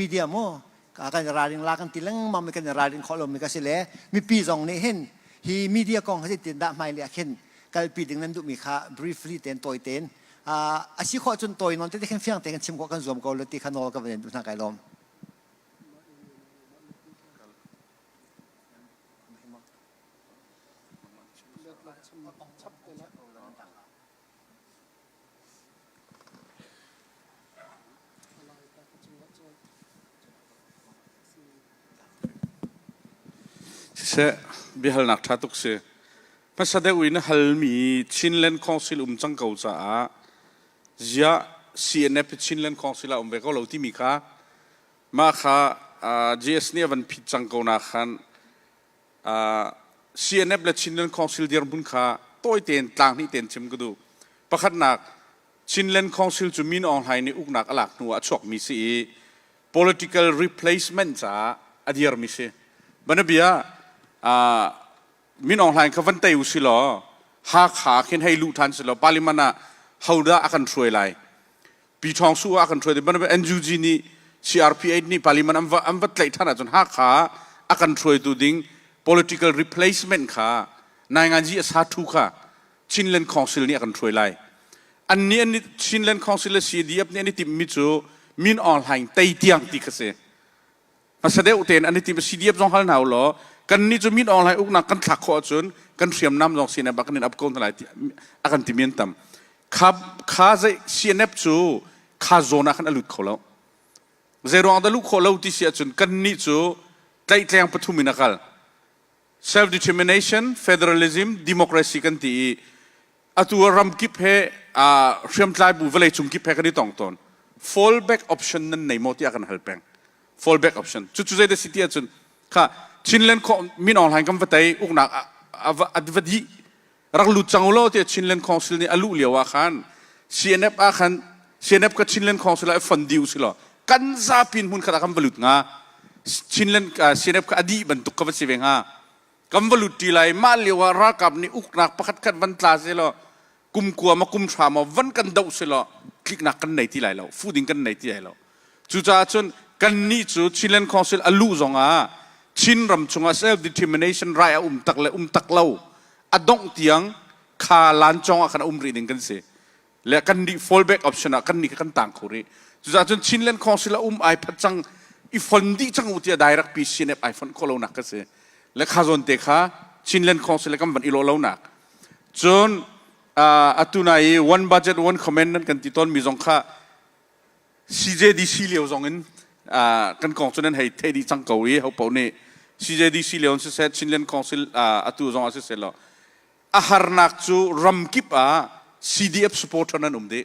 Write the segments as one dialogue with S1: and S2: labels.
S1: media mu kan ralring la kan ti lengmang mi kan ralring khawh lomi ka si le mipi zong nih hin hi media kong ha tin dah hmai le ah khin kalpi ding nan duhmi kha briefly ten tawi ten a si khawh cun tawi non te khin fiang te kan chim khawh kan zuam ko lo ti kha nawl ka van duh hna kai lawm Siseh, biahalnak ṭha tuk si. Hmasa deuh in halmi Chinland Council um cang ko caah ziah CNF hi Chinland Council ah um ve ko lo timi kha mah kha JS nih a van phit cang ko na khan CNF le Chinland Council dirhmun kha tawi tein tlang hnih tein chim ka duh. Pakhatnak, Chinland Council cu Min Aung Hlaing nih uknak a lak hnu ah a chuakmi si i political replacement caah a dirmi si. Banabia, Min Aung Hlaing kha van tei u si law Hakha khin hei luh ṭhan si law Parliament ah hodah a kan hruai lai? Pi Thawng Su ah kan hruai dih bantuk NUG nih CRP8 nih parliament an va, an va tlaih ṭhan ahcun Hakha a kan hruaitu ding political replacement kha Nainganzi a sa ṭhu kha Chinland Council nih a kan hruai lai. An nih an nih Chinland Council le CDF nih an i timhmi cu Min Aung Hlaing tei tiang ti kha si. hmasa deuh tein an i tim si diap zong hal hna ulaw kan nih cu min awng lai uknak kan thlak khawh ahcun kan hriamnam zong sin bak kan in ap ko hna lai ti a kan ti men tam kha kha zei CNF cu kha zone ah khan a lut kho lo zei ruang dah luh khawh lo ti si ahcun kan nih cu tlaihtleng pathum in a kal self-determination, federalism, democracy kan ti i atu ah ram kip he aa hriamtlai bu vawlei cung kip he kan i tong tawn. Fallback option nan nei maw tiah kan hal peng. Fallback option. Cucu zeidah si ti ahcun kha Chinland kho min online kan va tei uknak a va dih rak lut cang ulaw tiah Chinland Council nih a luh lio ah khan CNF ah khan CNF ka Chinland Council ah fon dih usilaw kan zapi hmun khat ah kan va lut hnga Chinland CNF ka adih bantuk ka va si ve hnga kan va lut ti lai mah lio ah ralkap nih uknak pakhat khat van tla selaw kum kua ma kum hra ma van kan doh selaw tliknak kan nei ti lai lo fu ding kan nei ti lai lo Cucaah cun kannih cu Chinland Council a luh zongah Chin ram chungah self-determination rai a um tak le um tak lo a dongh tiang kha lancawng ah khan a um rih ning kan si. Le kan nih fallback option ah kan nih kha kan tang kho rih. Cucaah cun Chinland Council a um ai phat cang i fon dih cang u tiah direct PCNF ai fonh khawh lonak ka si. Le kha zawn te kha Chinland Council le kan van i law lonak. Cun uh, atu na i one budget one comment nan kan ti tawn mi zong kha CJDC lio zongin kan kong cu nan hei thei dih cang ko i hopaoh nih CJDC lio in siseh Chinland Council atu zongah siseh law a harnak cu ramkip ah CDF supporter nan um dih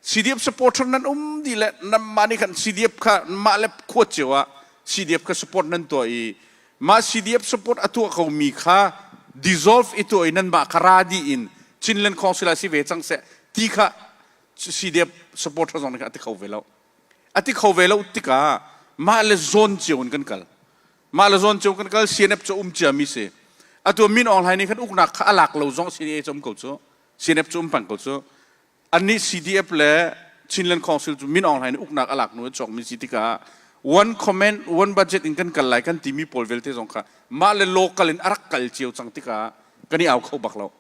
S1: CDF supporter nan um dih le nanmah nih khan CDF kha mah le kuat cio ah CDF kha support nan tuah i mah CDF support a tuah komi kha dissolve i tuah i nanmah kha ra dih in Chinland Council ah si ve cang seh ti kha CDF supporter zong nih a ti kho ve lo. A ti kho ve lo tikah mah le zawn cio in kan kal. Mah le zawn cio kan kal CNF cu um ciami si. Atu min online nih kan uknak kha a lak lo zong CNA cu um ko cu. CNF cu um pang ko cu. Annih CDF le Chinland Council cu min online in uknak a lak nu a cawkmi si tikah one comment one budget in kan kal lai kan timi pawl vialte zong kha mah le local in a rak kal cio cang tikah kan i au kho bak lo.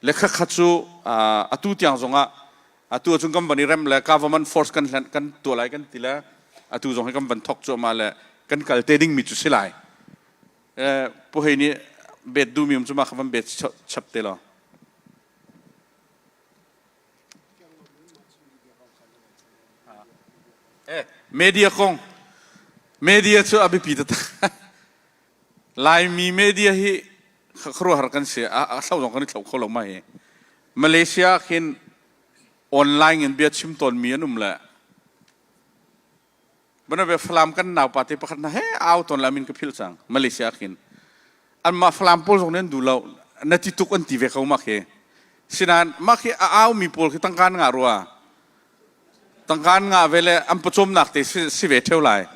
S1: le khatkhat cu atu tiang zongah atu ahcun kan van i rem le government force kan hlen kan tuah lai kan ti le atu zong hi kan van thok cuahmah le kan kal te dingmi cu si lai puhei nih bet duhmi um cu ma kha van bet chap te law media kong media cu a biapi taktak Laimi media hi khuaruahhar kan si a thlo zong kan i thlo kho lo mai Malaysia ah khin online in bia chim tawnmi an um le bana be Falam kan nau pa te pakhat na he au ton la min ka phil sang Malaysia khin an ma Falam pawl zong nen du lo na ti tuk an ti ve ko ma khi sinan ma khi a au mi pawl khi tangkan nga rua Tangkaan nga ve le an pawcawmnak te si ve theo lai.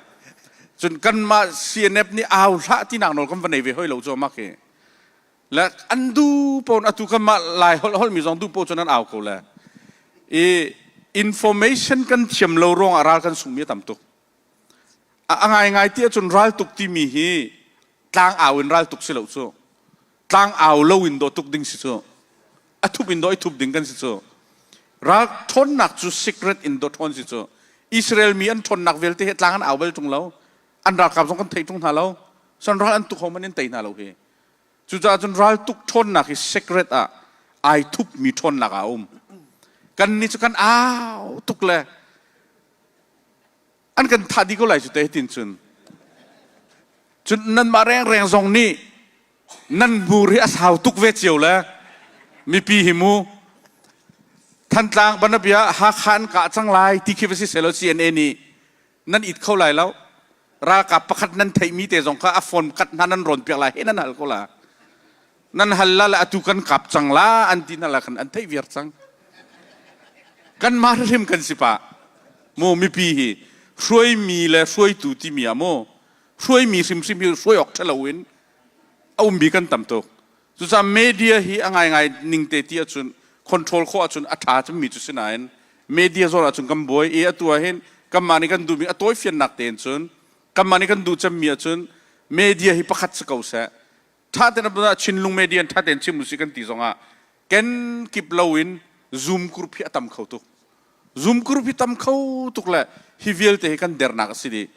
S1: Cun kanmah CNF nih au hlah tinak nawl kan va nei ve hoi lo cu amak hi. Le an du pon atu kanmah lai hol holmi zong du po cun an au ko le i information kan thiam lo ruangah ral kan sungmi a tam tuk. A, a ngai ngai ti ahcun ral tuk timi hi tlang au in ral tuk si lo cu. tlangau lo in daw tuk ding si cu a thup in daw i thup ding kan si cu ral ṭhawnnak cu secret in daw ṭhawn si cu Israel mi an ṭhawnnak vialte hi tlang an au bal ṭung lo an ralkap zong kan theih ṭung hna lo san ral an tuk hom an in tei hna lo hi cucaah cun ral tuk ṭhawnnak hi secret ah ai thupmi ṭhawnnak ah a um kannih cu kan au tuk le an kan thah dih ko lai cu te tin cun cun nanmah rengreng zong nih nan hmur hi a sau tuk ve cio le mipi hi mu Thantlang banabia Hakha an kah cang lai ti khi va si selaw CNA nih nan it kho lai lo ralkap pakhat nan theihmi te zong kha a phone kat hna nan rawn piak lai he nan hal ko la nan hal la le atu kan kap cang la an ti na la khan an theih viar cang kan mah hrim kan si pa mu mipi hi hruaimi le hruaitu timi ah mu hruaimi hrimhrim hi hruai awk ṭha loin a um bi kan tam tuk cucah media hi a ngaingai ning te ti ahcun control kho ahcun a ṭha cun mi cu si nain media zawn ahcun kan buai i atu ahhin kanmah nih kan duhmi a tawifiannak tein cun kanmah nih kan duh cemmi ahcun media hi pakhat si ko seh ṭha tein ah Chinlung media in ṭha tein chim usih kan ti zongah ken kip loin Zoom group hi a tam kho tuk. Zoom group hi tam kho tuk le hi vialte hi kan dernak a si dih.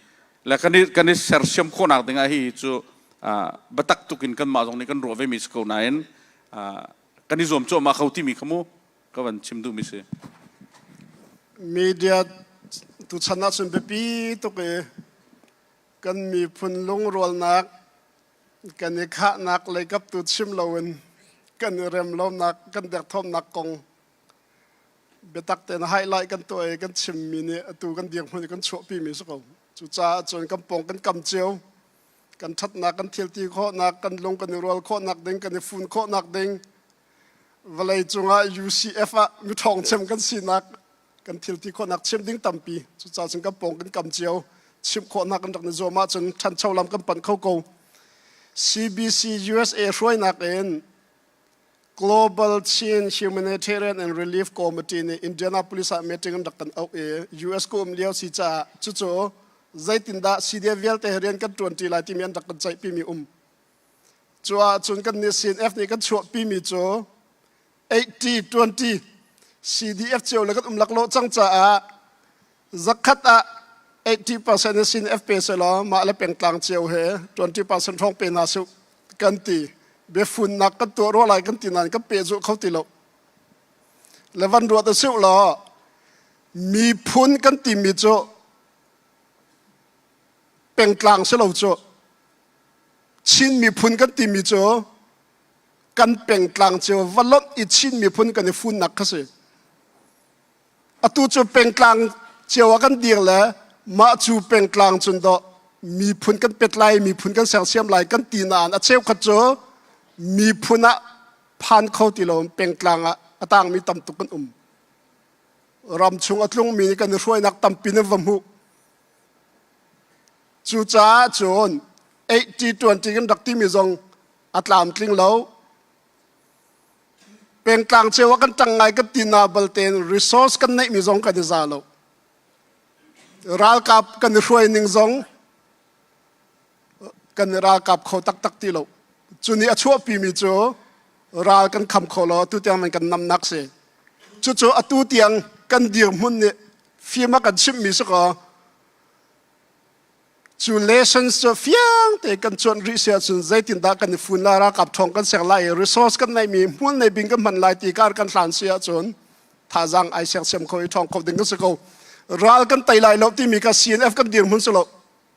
S1: Le kan i, kan i sersiam khawhnak dingah hi cu uh, biatak tukin kanmah zong nih kan ruah vemi si ko nain uh, kan i zuam cuahmah kho timi kha mu ka van chim duhmi si. Media tu chan ahcun biapi tuk i kan miphun lungrualnak kan i khahnak leikap tu chim loin kan i rem lonak kan derthawmnak kong biatak tein highlight kan tuah i kan chimmi nih atu kan dirhmun hmun i kan chuahpimi si ko cucaah cun kan pawng kan kam cio kan ṭhatnak kan thilti khawhnak kan lung kan i rual khawhnak ding kan i fun khawhnak ding vawlei cungah UCF ah mi ṭhawng chem kan sinak kan thil ti khawhnak chim ding tampi cucaah cun kan pawng kan kam cio chim khawhnak kan rak na zuam ahcun ṭhancho lam kan pan kho ko CBC USA hruainak in Global Chin Humanitarian and Relief Committee nih Indianapolis ah meeting an rak kan auh i US ku um lio si caah cucu zeitindah CDF vialte rian kan ṭuanṭi lai timi an rak kan ceihpimi um cu ahcun kan nih CNF nih kan chuahpimi cu 80-20 CDF cio le kan um laklawh cang caah zakhat ah 80% in CNF pe se law mah le pengtlang cio he 20% hrawng pe na su kan ti biafunnak kan tuah rua lai kan ti nan kan pe zu kho ti lo le van ruat a su law miphun kan ti mi cu pengtlang si lo cu Chin miphun kan ti mi cu kan pengtlang cu va lonh i Chin miphun kan i funnak kha si atu cu pengtlang cio ah kan ding le mah cu pengtlang cun do miphun kan pet lai miphun kan sersiam lai kan ti naan a cheukhat cu miphun ah phan kho ti lo pengtlang ah a tangmi tam tuk kan um ram chung a tlungmi kan i hruainak tampi in va hmuh Cucaah cun 80-20 kan rak timi zong a tlamtling lo. Pengtlang ceu ah kan tang ngai kan ti na balte resource kan neihmi zong kan i za lo. Ralkap kan i hruai ning zong kan i ralkap kho taktak ti lo cu ni a chuahpimi cu ral kan kham kho lo tu tiang nan kan namnak si cucu atu tiang kan dirhmun nih fim a kan chimhmi si kaw cu lessons cu fiang te kan cuan rih si ahcun zeitindah kan i fun lai ralkap ṭhawng kan ser lai i resource kan neimi hmual nei bing kan hman lai ti kar kan hlan si ahcun thazaang ai sersiam kho i ṭhawng kho ding kan si ko ral kan tei lai lo timi kha CNF kan dirhmun si lo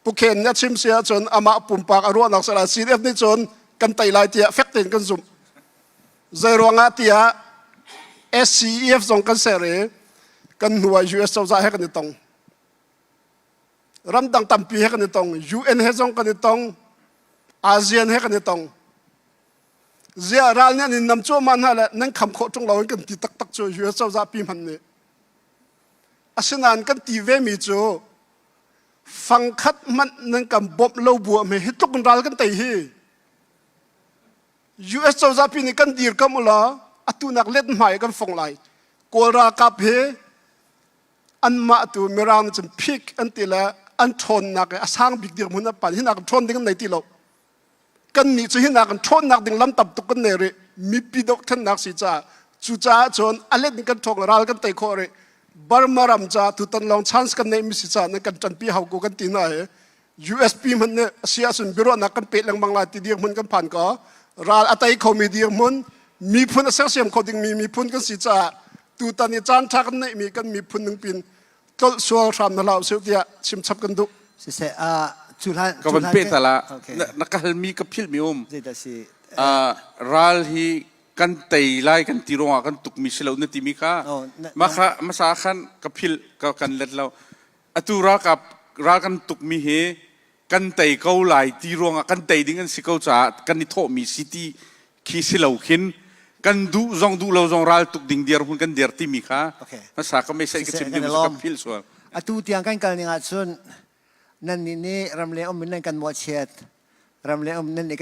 S1: Pukhen nih a chim si ahcun amah pumpak a ruahnak si lai CDF nih cun kan tei lai tiah fek tein kan zumh. Zei ruangah tiah SCEF zong kan ser i kan hnuai US cozah he kan i tong. Ramdang tampi he kan i tong. UN he zong kan i tong. ASEAN he kan i tong. Ziah ral nih an in nam cuahmah hna le nan kham khawh ṭung lo in kan ti taktak cu US cozah pi hman nih. Asinain kan ti vemi cu fangkhat hmanh nan kan bawmh lo bu me hi tluk in ral kan tei hi US cozah pi nih kan dirkamh ula atunak let hmai kan fong lai kawl ralkap hi anmah tu mirang cun phik an ti le an ṭhawnnak i a sang bik dirhmun a pan hinak ṭhawn ding an nei ti lo kannih cu hinak kan ṭhawnnak ding lam tam tuk kan nei rih mipi dokthannak si caah cucaah cun a let in kan ṭhawk le ral kan tei khawh rih Burma ram ca tutan lawng chance kan neih mi si caah nan kan ṭanpi hau ko kan ti hna hi USP hman ne a si ahcun biaruahnak kan peh lengmang lai ti dirh hmun kan phan ko ral a tei khomi dirh hmun miphun a sersiam kho dingmi miphun kan si caah tutan i caan ṭha kan neih mi kan miphun ningpin tlolh sual hram na hlau sih tiah chim chap kan duh siseh a cuhlan ka van pe tala na ka halmi ka philmi um ral hi kan tei lai kan ti ruangah kan tukmi si lo na timi kha maka masa khan ka phil ka kan let lo atu ra ka ra kan tukmi hi kan tei ko lai ti ruangah kan tei ding an si ko caah kan i thawhmi si ti khi si lo khin kan duh zong duh lo zong raltuk ding dirhmun kan dir timi kha hmasa ka mei ka chim ding ka feel sual atu tiang kan kal ning ahcun nannih nih ram leng um in nan kan mawhchiat ram leng um nan